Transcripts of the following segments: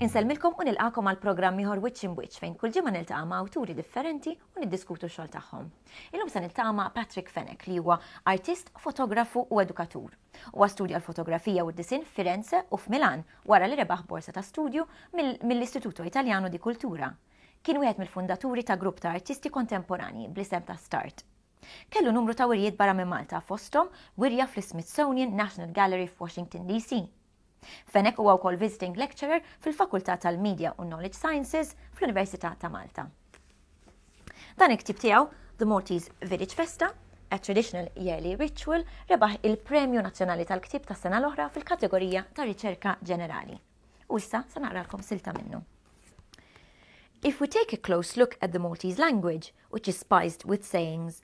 Insellmilkom u nilqakom għal programm ieħor Wiċċ Imwiċċ fejn kull ġimgħa niltaqa' ma' awturi differenti u niddiskutu x-xogħol tagħhom. Illum se niltaqa' ma' Patrick Fenek li huwa artist, fotografu u edukatur. Huwa studja l-fotografija u d-disinn f'Firenze u f'Milan wara li rebaħ borsa ta' studju mill-Istituto Italiano di Cultura. Kien wieħed mill-fundaturi ta' grupp ta' artisti kontemporanji bl-isem ta' Start. Kellu numru ta' wirjiet barra minn Malta fosthom wirja fl-Smithsonian National Gallery f'Washington DC. Fenech huwa wkoll Visiting Lecturer fil-Fakultà tal-Media u Knowledge Sciences fl-Università ta' Malta. Dan il-ktieb tiegħu, The Maltese Village Festa, A Traditional Yearly Ritual, rebaħ il-Premju Nazzjonali tal-Ktieb tas-sena l-oħra fil-kategorija ta' Riċerka Ġenerali. U issa se naqralkom silta minnu. If we take a close look at the Maltese language, which is spiced with sayings,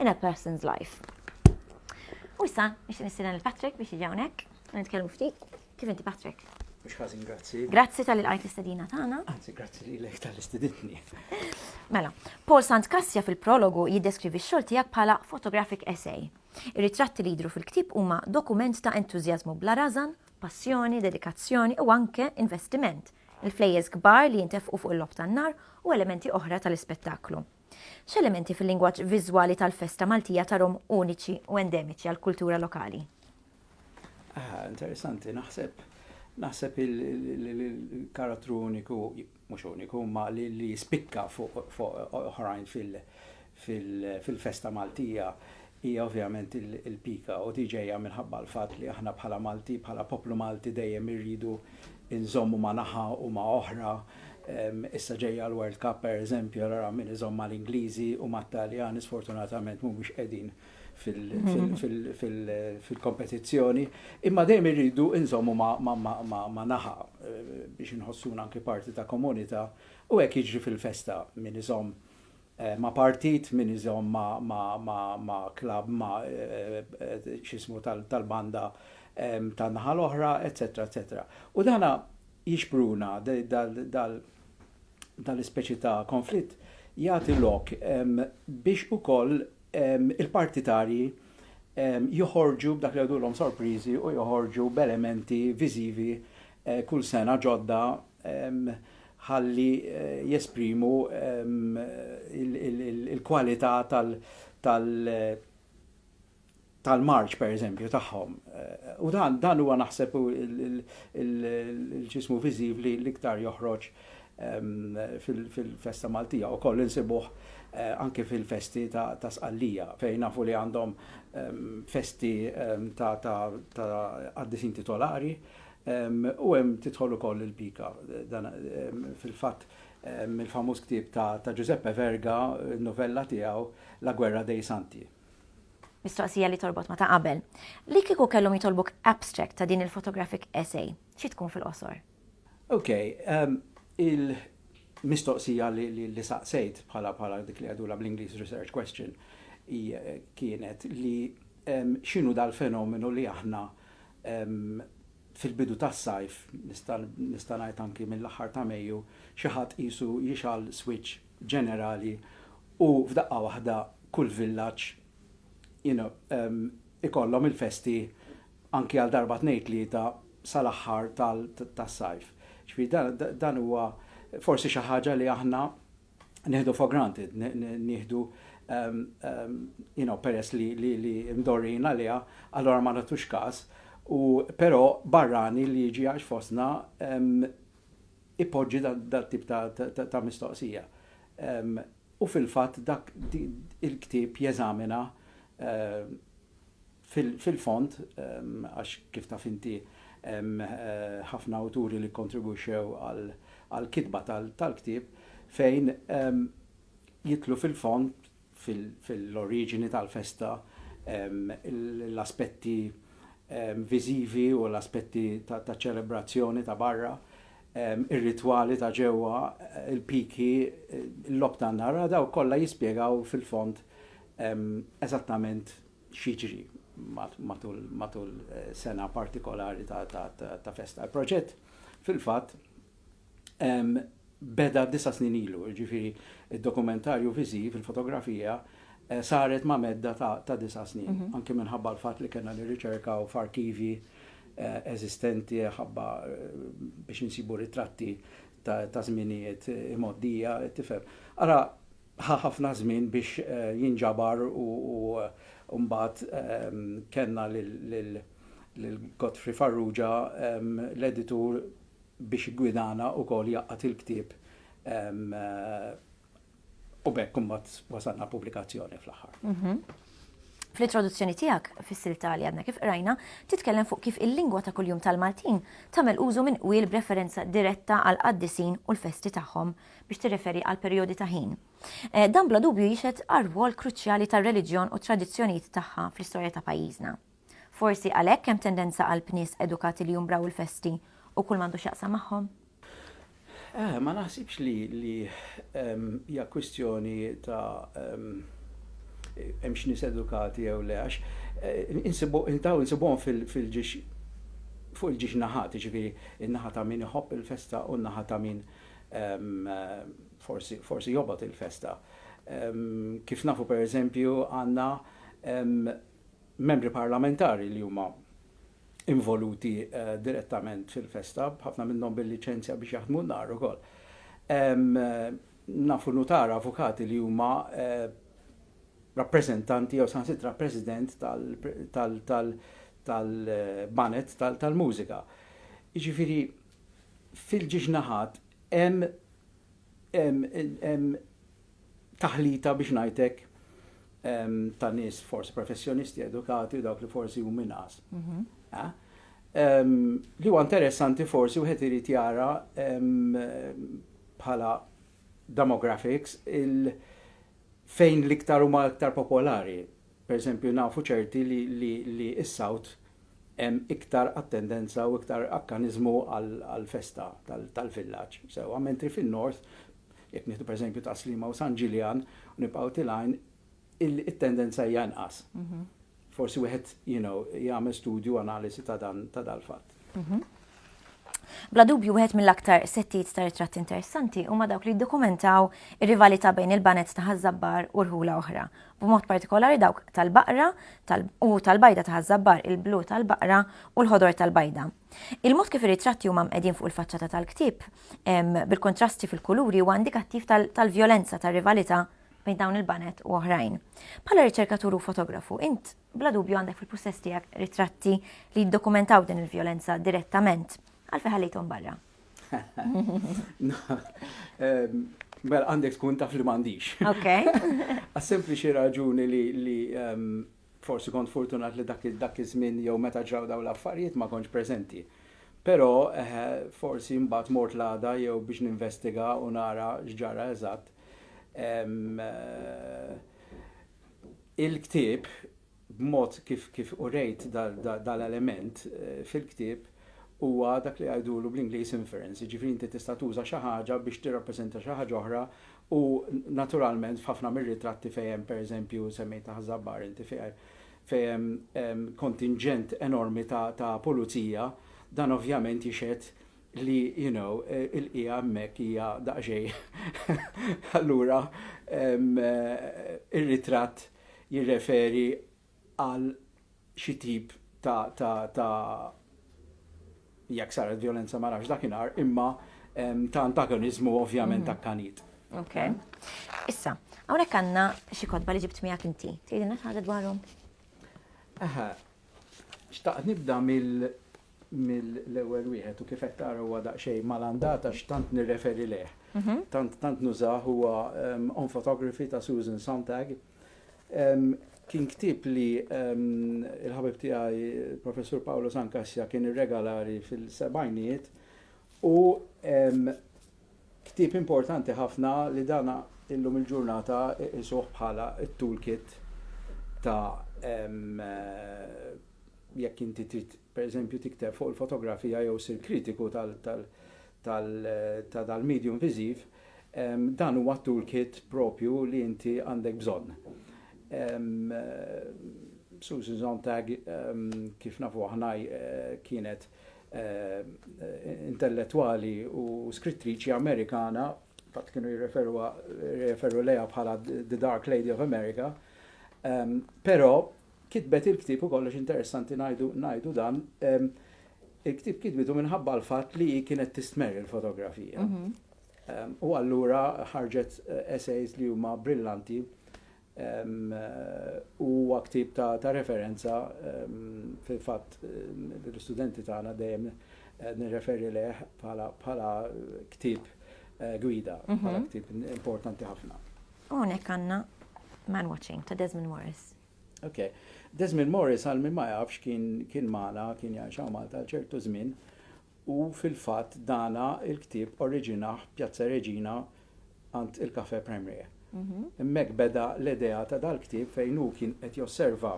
in a person's life. U issa, biex nistieden il-Patrick biex jiġi hawnhekk, nitkellmu ftit. Kif inti Patrick? Mhux ħażin, grazzi. Grazzi tal qajt l-istedina tagħna. Anzi, grazzi li lek tal-istedinni. Mela, Paul Sant Kassja fil-prologu jiddeskrivi x-xogħol tiegħek bħala photographic essay. Ir-ritratti li jidru fil-ktib huma dokument ta' entużjażmu bla razan, passjoni, dedikazzjoni u anke investiment. Il-flejjes kbar li jintefqu fuq il-lob tan-nar u elementi oħra tal-ispettaklu. X'elementi fil-lingwaġġ viżwali tal-festa Maltija tarhom uniċi u endemiċi għall-kultura lokali? Aha, interessanti, naħseb. Naħseb il-karattru uniku, mhux uniku, ma li jispikka fuq oħrajn fil-festa Maltija hija ovvjament il-pika u tiġejja minħabba l-fatt li aħna bħala Malti, bħala poplu Malti dejjem irridu inżommu ma' naħa u ma' oħra, issa ġejja l-World Cup pereżempju allura hawn min iżomm mal-Ingliżi u mat-Taljani sfortunatament mhumiex qegħdin fil-kompetizzjoni, imma dejjem irridu inżommu ma' naħa biex inħossuna anki parti ta' komunità u hekk jiġri fil-festa min iżomm ma' partit min iżomm ma' ma' ma' ma' klabb ma' x'ismu tal-banda tan-naħa l-oħra, eċċetera eċċetera. U dan jixpruna dal-ispeċi ta' konflitt jagħti lok biex ukoll il-partitarji joħorġu b'dak li jgħidulhom sorpriżi u joħorġu b'elementi viżivi kull sena ġodda ħalli jesprimu l-kwalità tal-marċ pereżempju tagħhom. U dan dan huwa naħseb il-ġismu viżiv li l-iktar joħroġ fil-festa Maltija u koll insibuh anke fil-festi ta' Sqallija fejn nafu li għandhom festi ta' qaddisin titolari U hemm tidħol ukoll il-pika. Dan fil-fatt mill-famuż ktieb ta' Giuseppe Verga, novella tiegħu La guerra dei santi. Mistoqsija li torbot ma' ta' qabel. Li kieku kellhom jitolbuk abstract ta' din il-photographic essay, xi tkun fil-qosor? Ok, il-mistoqsija li saqsejt bħala dik li jgħidulha bl-Ingliż research question hi kienet li x'inhu dal-fenomenu li aħna fil-bidu tas-sajf, nista' ngħid anki mill-aħħar ta' Mejju, xi ħadd qisu jixgħal swiċċ ġenerali u f'daqqa waħda kull villaġġ ikollhom il-festi anki għal darba tnejn tlieta sal-aħħar tas-sajf. Ġifieri dan huwa forsi xi ħaġa li aħna nieħdu for granted, nieħdu you know, peress li, li, li mdorrin għaliha, allora ma natux każ, u però barrani li jiġi għax fosna ipoġġi dat tip ta', ta, ta mistoqsija. Um, u fil-fatt dak il-ktib jeżamina uh, Fil-fond, għax kif taf inti hemm ħafna awturi li kkontribwixxew għall-kitba tal-ktieb fejn jidħlu fil-fond fil-oriġini tal-festa l-aspetti viżivi u l-aspetti taċ-ċelebrazzjoni ta' barra, ir-ritwali ta' ġewwa, il-piki, il-logħob tan-nar, dawn kollha jispjegaw fil-fond eżattament x'jiġri matul sena partikolari ta' festa. Il-proġett fil-fatt beda disa' snin ilu, jiġifieri d-dokumentarju viżiv, il-fotografija, saret ma' medda ta' disa' snin, anki minħabba l-fatt li kellna nirriċerkaw f'arkivji eżistenti ħabba biex insibu ritratti ta' żminijiet imgħoddija, tifhem. Ara, Ħa ħafna żmien biex jinġabar u mbagħad kellna lil Godfrey Farrugia, l-editur biex iggwidana wkoll jgħaqqad il-ktieb u b'hekk mbagħad wasalna għall-pubblikazzjoni fl-aħħar. Fl-introduzzjoni tiegħek fis-silta li għadna kif qrajna, titkellem fuq kif il-lingwa ta' kuljum tal-Maltin tagħmel użu minn qwiel b'referenza diretta għall-qaddisin u l-festi tagħhom. biex tirreferi għal perijodi ta' ħin. Dan bla dubju jixhed għar-rwol kruċjali tar-reliġjon u t-tradizzjonijiet tagħha fl-istorja ta' pajjiżna. Forsi għalhekk hemm tendenza qalb nies edukati li jumbraw il-festi u kull m'għandu x'jaqsam magħhom? Eh, ma naħsibx li hija kwistjoni ta' hemmx nies edukati jew le, għax eh, daw insibuhom fil-ġiex fuq il-ġiex naħat, jiġifieri n-naħa ta' min iħobb il-festa u n-naħa ta' min Forsi jobgħod il-festa. Kif nafu pereżempju għandna Membri Parlamentari li huma involuti direttament fil-festa, ħafna minnhom bil-liċenzja biex jaħdmu n-nhar ukoll. Nafu nutara, avukati li huma rappreżentanti jew saħansitra president tal-baned tal-mużika. Jiġifieri fil-ġiex naħat hemm taħlita biex ngħid hekk ta' nies forsi professjonisti edukati u dawk li forsi hum inqas. Mhm. Eh? Li huwa interessanti forsi wieħed irid jara bħala demographics fejn l-iktar huma iktar popolari Pereżempju, nafu ċerti li s-South hemm iktar attendenza u iktar akkaniżmu għall-festa tal-villaġġ, sewwa, mentri fin-North, jekk nieħdu pereżempju Tas-Sliema u San Ġiljan u nibqgħu tilgħin, it-tendenza hija inqas. Forsi wieħed, you know, jagħmel studju, analiżi ta' dan, ta' dal-fatt. Mhm. Bla dubju wieħed mill-aktar settijiet ta' ritratti interessanti huma dawk li jiddokumentaw ir-rivalità bejn il-banet ta' Ħażabbar u rħula oħra, b'mod partikolari dawk tal-baqra u tal-bajda ta' Ħażabbar, il-blu tal-baqra u l-ħodor tal-bajda. Il-mod kif ir-ritratti huma mqegħdin fuq il-faċċata tal-ktieb bil-kontrasti fil-kuluri huwa indikattiv tal-vjolenza tar-rivalità bejn dawn il-banet u oħrajn. Bħala riċerkatur u fotografu, int Bla dubju għandek fil-pussess tiegħek ritratti li jiddokumentaw din il-vjolenza direttament. Għalfejn ħallejthom barra? Ehm, mela għandek tkun taf li m'għandix. Ok. Għas sempliċi raġuni li ehm, forsi kont fortunat li dak dak iż-żmien jew meta ġraw daw l-affarijiet ma kontx preżenti. Però eh, forsi mbagħad mort l-għada jew biex ninvestiga u nara x'ġara eżatt. Eh, Il-ktieb, b'mod kif kif urejt dal-element fil-ktieb, huwa dak li jgħidulu bl-Ingliż inference, jiġifieri inti tista' tuża xi ħaġa biex tirrappreżenta xi ħaġa oħra u naturalment f'ħafna mir-ritratti fejn hemm pereżempju, semmejtha Ħaż-Żabbar inti, fejn hemm kontinġent enormi ta' pulizija, dan ovvjament jixhed li you know il-qiegħa hemmhekk hija daqsxejn allura ir-ritratt jirreferi għal xi tip ta' ta' ta' jekk saret violenza ma nafx dakinhar imma ta' antagoniżmu ovvjament ta' kanit. Ok. Issa, hawnhekk għandna xi kotba li ġibt miegħek inti. Tgħidilna xi ħaġa dwarhom? Aha. Xtaqt nibda mill mill-ewwel wieħed u kif qed tara huwa daqsxejn malandat għax tant nirreferi lejh. Tant tant nużah huwa On Photography ta' Susan Sontag. Kien ktieb li l-ħabib tiegħi Professur Paolo San Kassja kien irregalari fil-sebgħinijiet u ktieb importanti ħafna li dana illum il-ġurnata isuh bħala t-toolkit ta' Jekk inti trid, pereżempju, tikteb fuq il-fotografija jew issir kritiku ta' dal-medium viżiv, dan huwa t-toolkit proprju li inti għandek bżonn. Susan Sontag, kif nafu aħna, kienet intellettwali u skrittriċi Amerikana, fil-fatt kienu jirreferu lejha bħala the dark lady of America, però, Kitbet il-ktieb u kollox interessanti ngħidu ngħidu dan il-ktieb kitbitu minħabba l-fatt li hi kienet tistmerr il-fotografija. U allura ħarġet essays li huma brillanti u ktieb ta', ta referenza fil-fatt l-istudenti tagħna dejjem nirreferi leh bħala bħala ktieb gwida, bħala ktieb importanti ħafna. U hawnhekk għandna Man Watching ta' Desmond Morris. Ok. Desmond Morris għal min ma jafx kien kien magħna, kien jgħix hawn Malta għal ċertu żmien, u fil-fatt dana il-ktieb oriġinah Pjazza Reġina għand il-Cafe Premier. Hemmhekk beda l-idea ta' dal-ktieb fejn hu kien qed josserva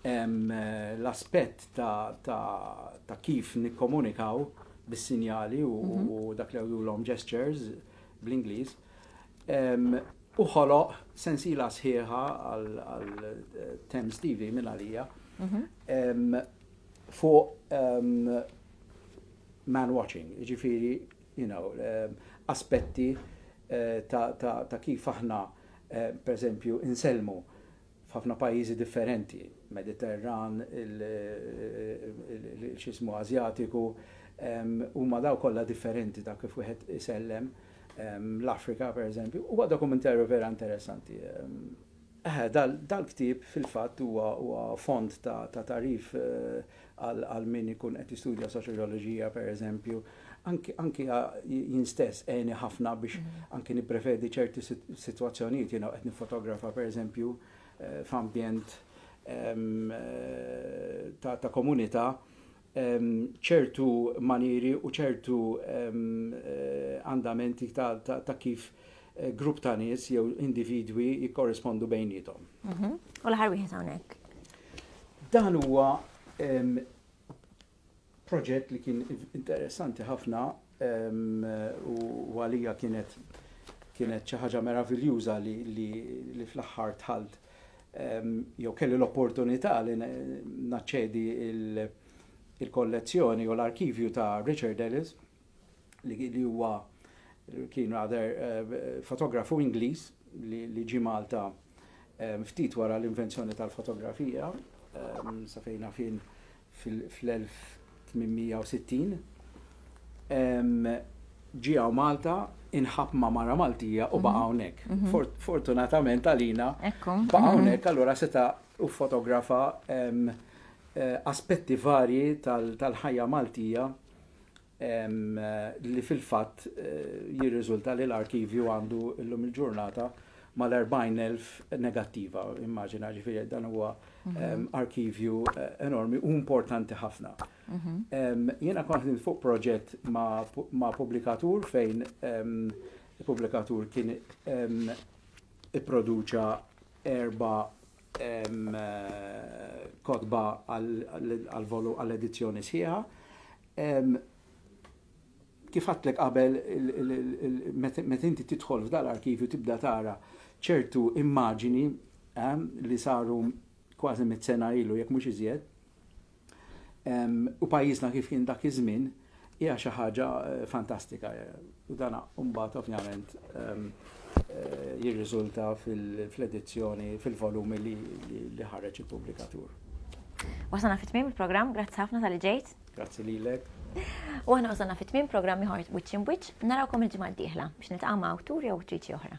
l-aspett ta' kif nikkomunikaw bis-sinjali u dak li għodulhom gestures bl-Ingliż. u ħoloq sensiela sħiħa għal Thames TV minn għalija fuq man watching, jiġifieri you know, aspetti eh, ta' kif aħna eh, pereżempju insellmu f'ħafna pajjiżi differenti, Mediterran, il-x'jismu Ażjatiku, huma daw kollha differenti ta' kif wieħed isellem, l-Afrika pereżempju, huwa dokumentarju vera interessanti. Eħe, dal-ktieb fil-fatt huwa fond ta' tagħrif għal min ikun qed jistudja soċjoġoloġija pereżempju, anki anki jien stess għeni ħafna biex anki nipprevedi ċerti sitwazzjonijiet jiena qed niffotografa pereżempju eh, f'ambjent ehm, eh, ta', ta komunità ehm, ċertu manieri u ċertu ehm, eh, andamenti ta', ta, ta kif grupp ta' nies jew individwi jikkorrispondu bejniethom. Mhm. U l-aħħar wieħed hawnhekk. Dan huwa proġett li kien interessanti ħafna u għalija kienet kienet xi ħaġa meraviljuża li, li, li fl-aħħar tħalt jew kelli l-opportunità li naċċedi il-kollezzjoni u l-arkivju ta' Richard Ellis li huwa kien rather fotografu Ingliż li ġie Malta ftit wara l-invenzjoni tal-fotografija sa fejn fin fl-1860 ġie hawn Malta inħabb ma' mara Maltija u baqa' hawnhekk. Fortunatament għalina baqa' hawnhekk allura seta' ffotografa aspetti varji tal-ħajja Maltija li fil-fatt jirriżulta li l-arkivju għandu llum il-ġurnata mal-40,000 negattiva, immaġina ġifieri dan huwa mhm. arkivju eh, enormi u importanti ħafna. Mhm. Jiena kont fuq proġett ma' pubblikatur fejn il-pubblikatur kien ipproduċa erba' kotba għall-edizzjoni sħiħa. Kif għadtlek qabel, meta inti tidħol f'dal arkivju tibda tara ċertu immaġini li saru kważi mit-sena ilu, jekk mhux iżjed, u pajjiżna kif kien dak iż-żmien hija xi ħaġa fantastika. U dan mbagħad ovvjament jirriżulta fil-edizzjoni, fil-volumi li ħareġ il-pubblikatur. Wasalna fit-tmiem il-programm, grazzi ħafna tal-li ġejt. Grazzi lilek. U aħna wasalna fit tmim programmi ieħor Witch in Witch, narawkom il-ġimgħa d-dieħla biex nitqama' awtur jew awtriċi oħra.